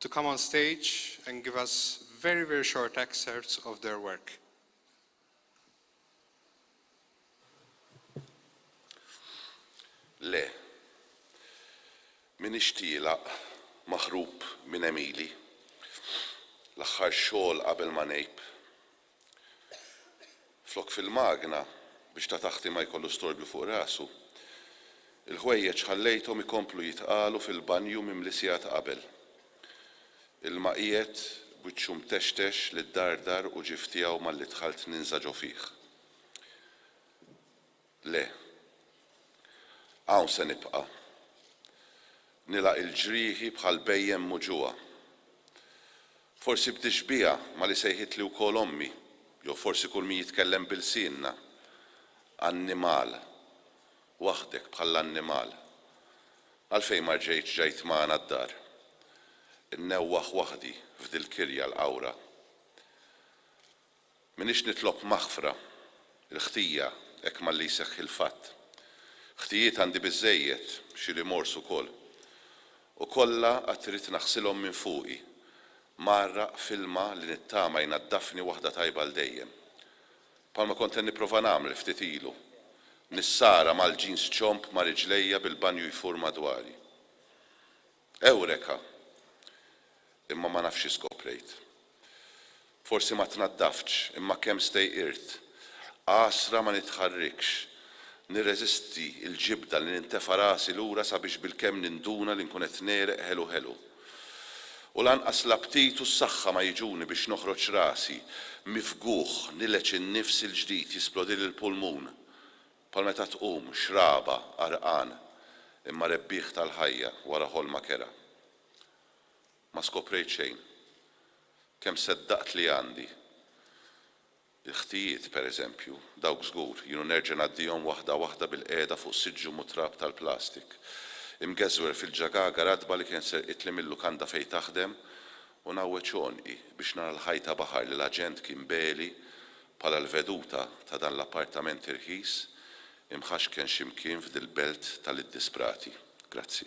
to come on stage and give us very very short excerpts of their work. Le. M'iniex tielaq, maħrub minn Emili. L-aħħar xogħol qabel ma ngħib. flok fil-magna biex ta' taħti ma jkollu storbju fuq rasu. Il-ħwejjeġ ħallejthom ikomplu jitqalu fil-banju mimli sigħat qabel. Ilma qiegħed, b'wiċċu mtextex li ddardar u ġief tiegħu malli dħalt ninża' ġo fih. Le. Hawn se nibqa'. Nilgħaq il-ġrieħi bħal bhejjem muġugħa. Forsi b'tixbiha ma' li sejħitli wkoll ommi, jew forsi kull min jitkellem bi lsienna. Annimal. Waħdek bħall-annimal. Għalfejn ma rġejtx ġajt magħna d-dar? Innewwaħ waħdi f'dil-kirja l-qawra. M'iniex nitlob maħfra, il-ħtija, hekk malli jseħħ il-fatt. Ħtijiet għandi biżżejjed, xi rimors ukoll. U kollha għad trid naħsilhom minn fuqi, mgħarraq f'ilma li nittama jnaddafni waħda tajba għal dejjem. Bħalma kont qed nipprova nagħmel ftit ilu. Nissara mal-jeans ċomb ma' riġlejja bil-banju jfur madwari. Ewreka! Imma ma nafx xi skoprejt. Forsi ma tnaddaftx, imma kemm stejqirt. Għasra ma nitħarrikx. Nirreżisti l-ġibda li nintefa' rasi lura sabiex bilkemm ninduna li nkun qed negħreq ħelu ħelu. U lanqas l-aptit u s-saħħa ma jiġuni biex noħroġ rasi, mifgugħ, nileġ in-nifs il-ġdid, jisplodili l-pulmun. Bħal meta tqum, xraba, għarqan, imma rebbieħ tal-ħajja, wara ħolma kerha. Ma skoprejt xejn. Kemm seddaqt li għandi. Il-ħtijiet, per eżempju, dawk żgur, jien u nerġa' ngħaddihom waħda waħda bil-qiegħda fuq siġġu mutrab tal-plastik. Imgeżwer fil-ġagaga ratba li kienet serqitli mil-lukanda fejn taħdem U ngħawweġ għonqi biex nara l-ħajta baħar li l-aġent kien beli bħala l-veduta ta' dan l-appartament irħis imħaxken xi mkien f'dil-belt tal-iddisprati. Grazzi.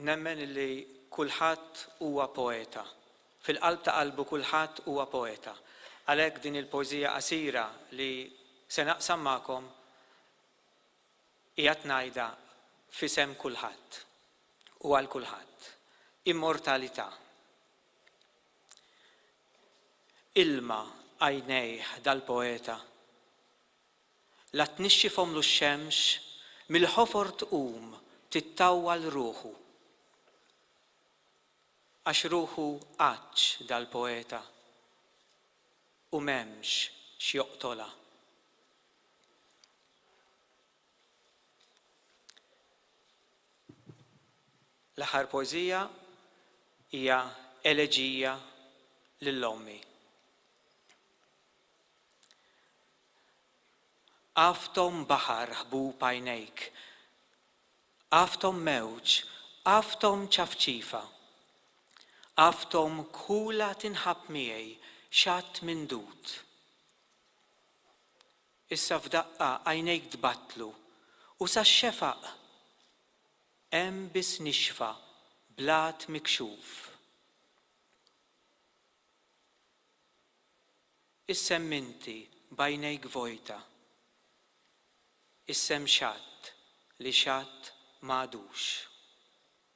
Nemmen li kulħadd huwa poeta. Fil-qalb ta' qalbu kulħadd huwa poeta. Għalhekk din il-poeżija qasira li se naqsam magħkom Qiegħed ngħidha f'isem kulħadd u għal kulħadd, immortalità. Ilma għajnejh dal-poeta. La tnixxifhomlu x-xemx, mill-ħofor tqum tittawwal ruħu. Għax ruħu għatx dal-poeta u m'hemmx x'joqtolha. L-aħħar poeżija hija eleġija lil ommi. Għafthom baħar ħbub għajnejk, għafthom mewġ, għafthom ċafċifa, għafthom kħula tinħabb miegħi xatt mindud. Issa f'daqqa għajnejk tbattlu, u sax-xefaq hemm biss nixfa blat mikxuf. Issem inti b'għajnejk vojta. Issem xatt li xatt m'għadux.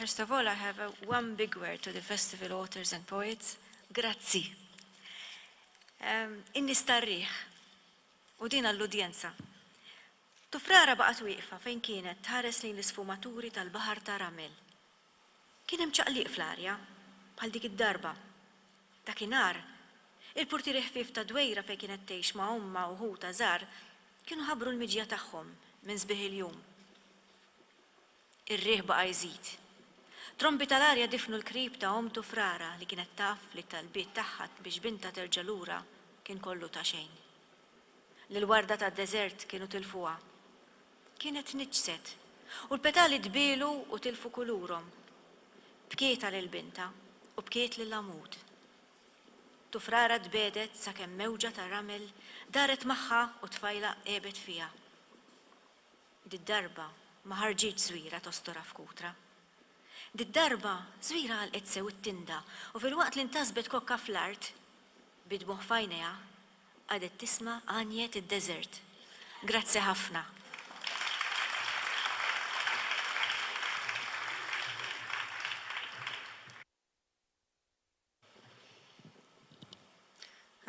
First of all, I have a one big word to the festival authors and poets. Grazzi. Um, inni starriħ u din għall-udjenza. Tufrara baqgħet wieqfa fejn kienet tħares lejn l-isfumaturi tal-baħar ta' ramel Kien hemm ċaqliq fl-arja, bħal dik id-darba. Dakinhar, il-purtieri ħfief tad-dwejra fejn kienet tgħix ma' ommha u ħutha żgħar kienu ħabbru l-miġja tagħhom minn sbieħ il-jum. Ir-riħ baqa' jżid. Trombi tal-arja difnu l-qrib ta' ommtu f'rara li kienet taf li t-talbiet tagħha biex bintha terġa' lura kien kollu ta' xejn. L-ilwarda tad-deżert kienu tilfuha. Kienet tniġġset, u l-petali tbielu u tilfu kulurhom. Bkiet għal il-bintha, u bkiet lill-għamud. Tufrara tbegħdet sakemm mewġa ta' ramel daret magħha u t-tfajla għebet fiha. Did-darba ma ħarġitx Żwiera tostorha f'kutra. Did-darba Żwiera għalqet sew it-tinda u filwaqt li ntasbet kokka fl-art, bid-dmugħ f'għajnejha, Qadet tisma' għanjet id-deżert. Grazzi ħafna.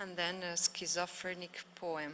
And then a schizophrenic poem.